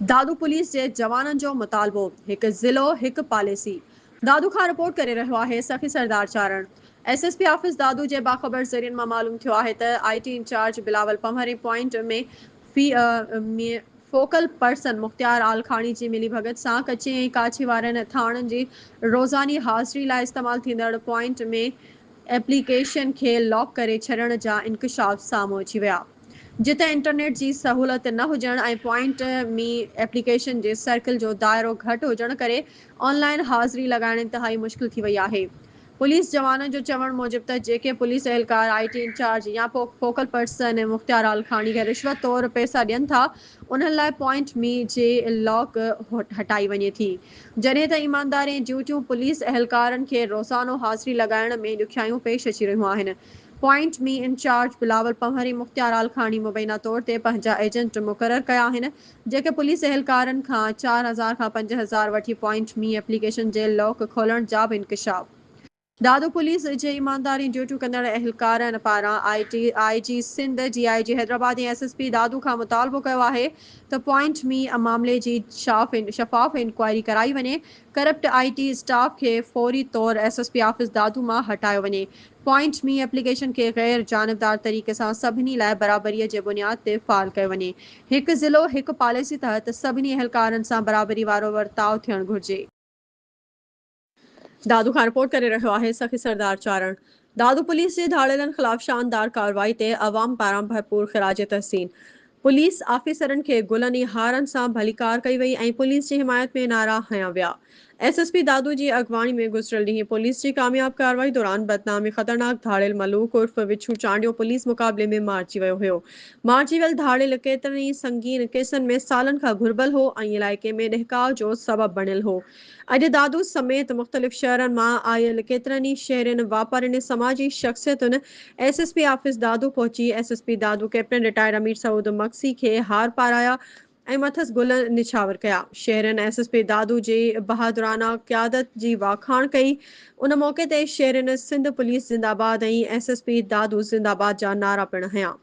Dadu police جي جوانن جو مطالبو، هڪ ضلعو هڪ پاليسي، دادو کان رپورٽ ڪري رهيو آهي Sakhi Sardar Charan. S S P office Dadu جي باخبر ذريعن مان معلوم ٿيو آهي ته I T incharge Bilawal پنهورين point ۾ في ۾ فوڪل پرسن مختيار عالخاڻي جي ملي ڀڳت سان ڪچي ۽ ڪاڇي وارن ٿاڻن جي روزاني حاضري لاء استعمال ٿيندڙ پوائنٽ ۾ ايپليڪيشن کي لاڪ ڪري ڇڏڻ جا انڪشاف سامهون اچي ويا. جتي انٽرنيٽ جي سهولت نه هجڻ ۽ پوائنٽ مي ايپليڪيشن جي سرڪل جو دائرو گهٽ هجڻ ڪري آن لائن حاضري لڳائڻ انتهائي مشڪل ٿي وئي آهي. پوليس جوانن جو چوڻ موجب ته جيڪي پوليس اهلڪار آء ٽي انچارج يا فوڪل پرسن ۽ مختيار آلکاڻي کي رشوت طور پئسا ڏين ٿا انهن لاء پوائنٽ مي جي لاڪ هٽائي وڃي ٿي جڏهن ته ايماندارين ڊيوٽيون پوليس اهلڪارن کي روزانو حاضري لڳائڻ ۾ ڏکيائيون پيش اچي رهيون آهن پوائنٽ ۾ انچارج بلاول پنهور ۽ مختيار عالخاني مبينا طور تي پنهنجا ايجنٽ مقرر ڪيا آهن، جيڪي پوليس اهلڪارن کان چار هزار کان پنج هزار وٺي پوائنٽ ۾ ايپليڪيشن جي لاڪ کولڻ جا به انڪشاف. دادو پوليس جي ايماندارين ڊيوٽيون ڪندڙ اهلڪارن پاران I T, I G Sindh, D I G Hyderabad ۽ S S P Dadu کان مطالبو ڪيو آهي ته پوائنٽ مي معاملي جي شفاف انڪوائري ڪرائي وڃي، ڪرپٽ آء ٽي اسٽاف کي فوري طور S S P office Dadu مان هٽايو وڃي، پوائنٽ مي ايپليڪيشن کي غير جانبدار طريقي سان سڀني لاء برابريء جي بنياد تي فعال ڪيو وڃي. هڪ ضلعو هڪ پاليسي تحت سڀني اهلڪارن سان برابري وارو ورتاء ٿيڻ گهرجي. دادو کان رپورٽ ڪري رهيو آهي سخي سردار چارڻ. دادو پوليس جي ڌاڙيلن خلاف شاندار ڪارروائي تي عوام پاران ڀرپور خراج تحسين. پوليس آفيسرن کي گلن ۽ هارن سان ڀليڪار ڪئي وئي ۽ پوليس جي حمايت ۾ نعرا هنيا ويا. ايس ايس پي دادو جي اڳواڻي ۾ گذريل ڏينهن پوليس جي ڪامياب ڪارروائي دوران بدنام ۽ خطرناڪ ڌاڙيل ملوڪ عرف وڇون چانڊيو پوليس مقابلي ۾ مارجي ويو هيو. مارجي ويل ڌاڙيل ڪيترن ئي سنگين ڪيسن ۾ سالن کان گهربل هو ۽ علائقي ۾ ڏهڪاء جو سبب بڻيل هو. اڄ دادو سميت مختلف شهرن مان آيل ڪيترن ئي شهرين، واپارين ۽ سماجي شخصيتن S S P office Dadu پهچي S S P Dadu captain retired Amir Saud Magsi کي هار پارايا ۽ مٿس گل نڇاور ڪيا. شهرين ايس ايس پي دادو جي بهادرانه قيادت جي واکاڻ ڪئي. ان موقعي تي شهرين سنڌ پوليس زنده باد ۽ ايس ايس پي دادو زنده باد جا نعرا پڻ هنيا.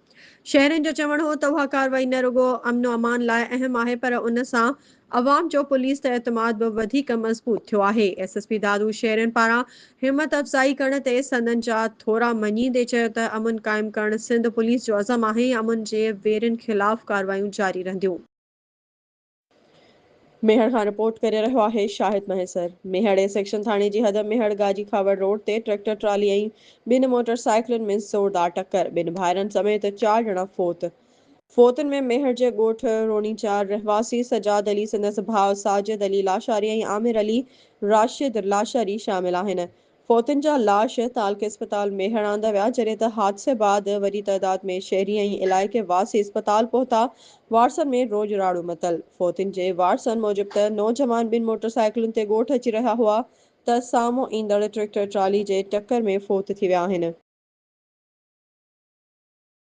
شهرين جو چوڻ هو ته اها ڪارروائي نه رڳو امن و امان لاء اهم آهي پر ان سان عوام جو پوليس تي اعتماد به وڌيڪ مضبوط ٿيو آهي. ايس ايس پي دادو شيرين پاران همت افزائي ڪرڻ تي سندن جا ٿورا مڃيندي چيو ته امن قائم ڪرڻ سنڌ پوليس جو عزم آهي ۽ امن جي ويرين خلاف ڪارروايون جاري رهنديون. ميهڙ کان رپورٽ ڪري رهيو آهي شاهد مهيسر. ميهڙ اي سيڪشن ٿاڻي جي حد ميهڙ گاجي کاوڙ روڊ تي ٽريڪٽر ٽرالي ۽ ٻن موٽر سائيڪلن ۾ زوردار ٽڪر، ٻن ڀائرن سميت چار ڄڻا فوت. فوتن ۾ ميهڙ جي ڳوٺ روڻي چار رهواسي سجاد علي، سندس ڀاء ساجد علي لاشاري ۽ عامر علي راشد لاشاري شامل آهن. فوتن جا لاش تعلقي اسپتال ميهڙ آندا ويا، جڏهن ته حادثي بعد وڏي تعداد ۾ شهري ۽ علائقي واسي اسپتال پهتا، وارثن ۾ روڄ راڙو متل. فوتن جي وارثن موجب ته نوجوان ٻن موٽر سائيڪلن تي ڳوٺ اچي رهيا هئا ته سامهون ايندڙ ٽريڪٽر ٽرالي جي ٽڪر ۾ فوت ٿي ويا آهن.